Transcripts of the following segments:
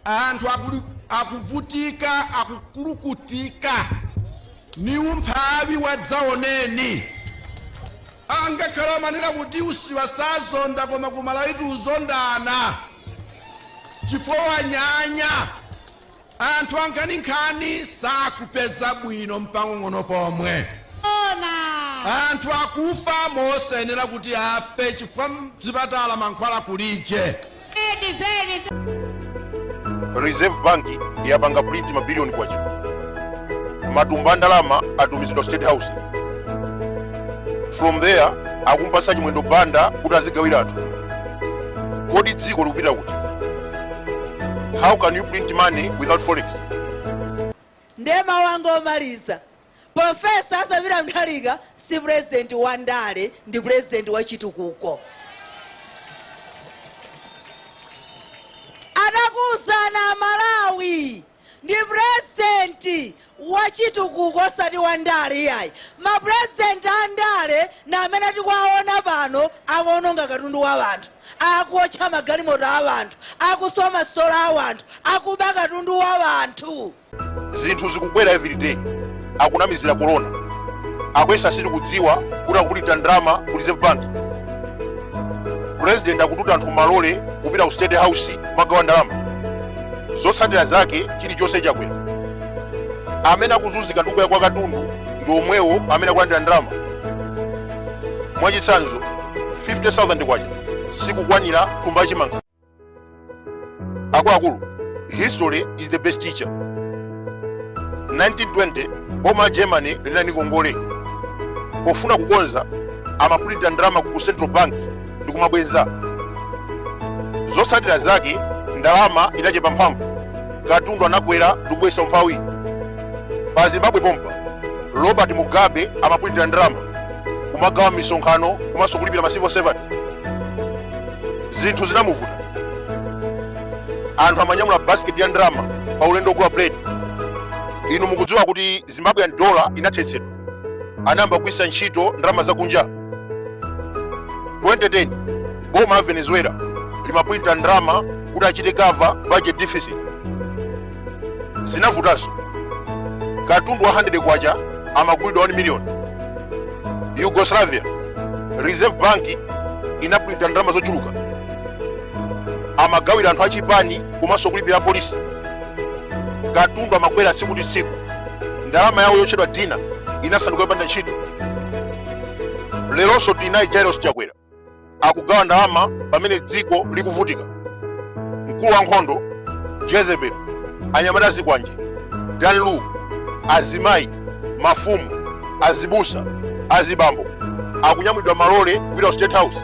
Anthu akulu- akuvutika akukulukutika ni umphawi wadzaoneni angakhale amanena kuti usiwa sazonda koma ku Malawitu uzondana chifukwa wanyanya anthu ankhaninkhani sakupeza bwino mpang'ono pomwe anthu akufa mosayenera kuti afe chifukwa mzipatala mankhwala kulije reserve bank yapanga print mabiliyoni kwacha matumba a ndalama atumizidwa state house from there akumpasa chimwendo banda kuti azigawira anthu kodi dziko likupita kuti how can you print money without forex ndemanga yomaliza Professor Arthur Peter Mutharika si president wa ndale ndi president wa chitukuko. Ndakuuzani a Malawi ndi president wa chitukuko osati wa ndale iyayi. Ma president a ndale na amene tikuwaona pano akuononga katundu wa anthu akuotcha magalimoto a anthu akuswa masitolo a anthu akuba katundu wa anthu. zinthu zikukwera everyday akunamizira corona akuyesa sitikudziwa kuti akuprinta ndalama ku reserve bank president akututa anthu malole kupita ku state house kumagawa ndalama zotsatira zake chilichonse chakwera amene akuzunzika ndi kukwera kwa katundu ndi omwewo amene akulandira ndalama mwachitsanzo 50000 kwacha sikukwanira thumba chimanga akuluakulu history is the best teacher 1920 boma la germany linali ndi ngongole pofuna kukonza amapulinta ndalama ku central bank ndi kumabweza zotsatira zake ndalama inachepa mphamvu katundu anakwera ndi kubweretsa umphawi pa zimbabwe pompa robert mugabe amapulinta ndalama kumagawa mmisonkhano komanso kulipira ma civil servant zinthu zinamuvuta anthu amanyamula basket ya ndalama pa ulendo ogula bread inu mukudziwa kuti zimbabwean dollar inathetsedwa anayamba kugwiritsa ntchito ndalama zakunja 2010 boma la venezuela limaprinta ndalama kuti achite cover budget deficit zinavutanso katundu wa 100 kwacha amagulidwa 1 million yugoslavia reserve bank inaprinta ndalama zochuluka amagawira anthu achipani komanso kulipira apolisi katundu amakwera tsiku ndi tsiku ndalama yawo yotchedwa dinar inasanduka yopanda ntchito leronso tinayi Lazarus chakwera akugawa ndalama pamene dziko likuvutika mkulu wa nkhondo jezebel anyamata azikwanje dan lu azimayi mafumu azibusa azibambo akunyamulidwa pa malole kupita ku state house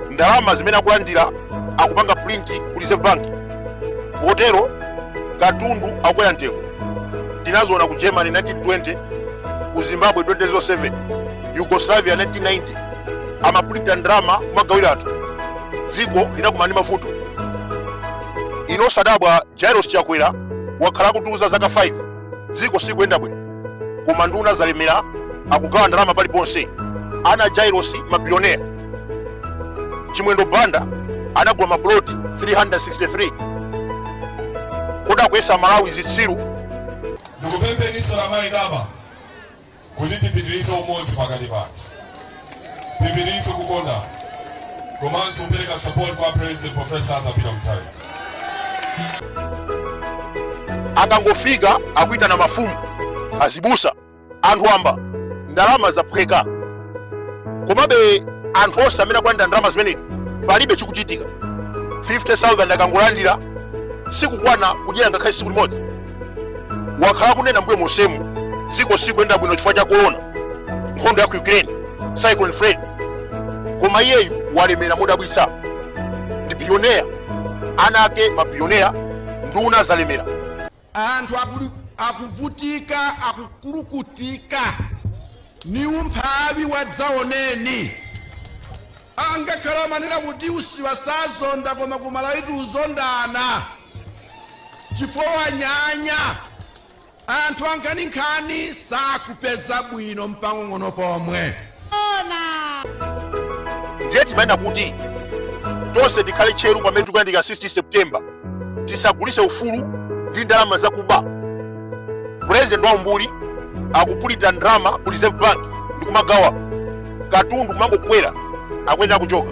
ndalama zimene akulandira akupanga print ku reserve bank motero katundu akukwera mtengo tinazionako ku germany 1920 ku zimbabwe 2007 Yugoslavia 1990 amapulinta ndalama kumagawira anthu dziko linakumana ndi mavuto inu osadabwa jairos chakwera wakhala akutiuza zaka 5 dziko sikuyenda bwino koma nduna zalemera akugawa ndalama paliponse ana jairos mabilionea chimwendo banda anagula mapuloti 363 kodi akuyesa malawi zitsiru Ndikupempheninso la mayi daba kuti tipitirize umodzi pakati pathu, tipitirize kukondana komanso kupereka support kwa President Professor Arthur Peter Mutharika. akangofika akuitana mafumu azibusa anthu wamba ndalama zaphweka komabe anthu onse amene akulandira ndalama zimenezi palibe chikuchitika 50000 akangolandira sikukwana kudyera ngakhale tsiku limodzi wakhala kunena mbuyo monsemu dziko sikuyenda bwino chifukwa cha korona nkhondo ya ku ukraine cyclone fred koma iyeyu walemera modabwitsa ndi billionaire ana ake mabillionaire nduna zalemera anthu akuvutika akukulukutika ni umphawi wadzaoneni angakhale amanena kuti usiwa sazonda koma kumalawitu uzondana chifukwa wanyanya anthu ankhaninkhani sakupeza bwino mpang'ono pomwe ndiye timayenera kuti tonse tikhale tcheru pamene tikuyandikira 16 september tisagulise ufulu ndi ndalama zakuba purezidenti wa umbuli akupulinta ndalama ku reserve bank ndikumagawa katundu kumangokwera akuyenera kuchoka